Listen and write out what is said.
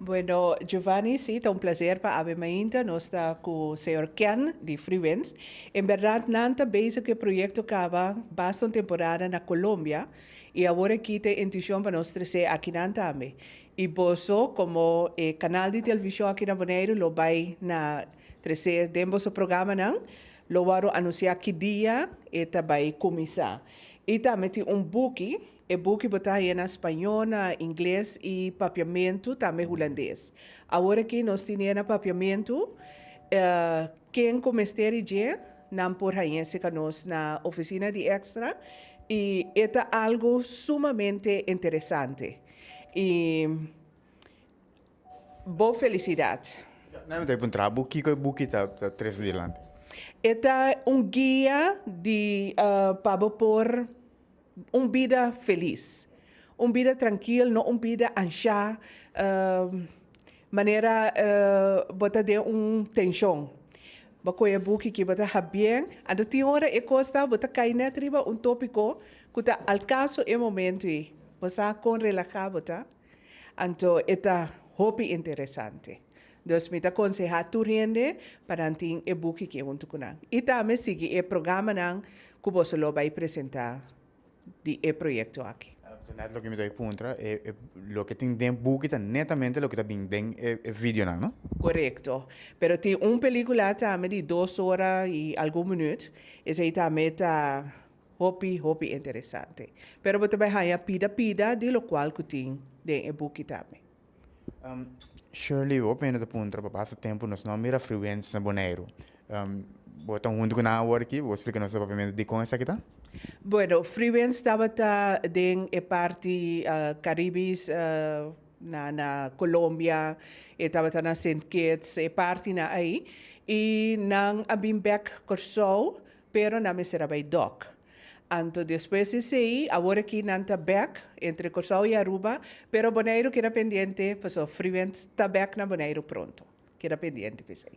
Bueno Giovanni si ta un placer pa awe mainta nos ta cu señor Ken di Free Winds en berdad nan ta bezig cu e proyecto caba basta un temporada na Colombia y awor aki ta e intuicion pa nos trece akinan tambe y boso como e canal di television aki na Boneiru lo bay na trece den boso programanan lo wou anuncia ki dia e ta bay cuminsa y tambe tin un buki E buki bo ta haya na spañó, na ingles i papiamentu tambe hulandes. Awor aki nos tine e na papiamentu. Ken ku mester i dje, nan por hañese ka nos na ofisina di Extra i e ta algu sumamente interesante. I bo felisidat. Nan lo ta puntra bo kiko e buki ta trese dilanti. E ta un guia di pa bo por. Un bida felis. Un bida trankil, no un bida anshá manera bo ta den un tenshon. Bo koe e buki ki bo ta hap bien, anto tin ora e kos ta bo ta kai nèt riba un tópiko ku ta al kaso e momentu ei. Bo sa kon relahá bo ta? Anto e ta hopi interesante. Dus mi ta konsehá tur hende pa nan tin e buki ki huntu ku nan. I tambe sigui e programanan ku boso lo bai presentá di e proyekto aki. Su nèt loke mi ta bai puntra, e loke tin den buki ta netamente loke ta bin den e videonan, no? Korekto. Pero tin un pelíkula tambe di dos ora i algun minüt. Esei tambe ta Hopi, hopi interesante. Pero bo ta bai haña pida pida di locual cu tin den e buki tambe. Shirley, hopi hende ta puntra pa pasa tempo nos no mira afluentes na Boneiru. Bo ta hunto cu nan awor aki, bo splica nos rapiamento dicon esaki ta? Bueno, Freewens tabata den e parti Caribis na Colombia, e tabata na Sint Kitts, e partinan ay, y nan a bin bek Corsou Pero nan mester a bai dòk. Anto despues di esei, awor aki nan ta bèk entre Kòrsou i Aruba, pero Boneiru keda pendiente pasobra Freevent ta bèk na Boneiru pronto. Keda pendiente pa esei.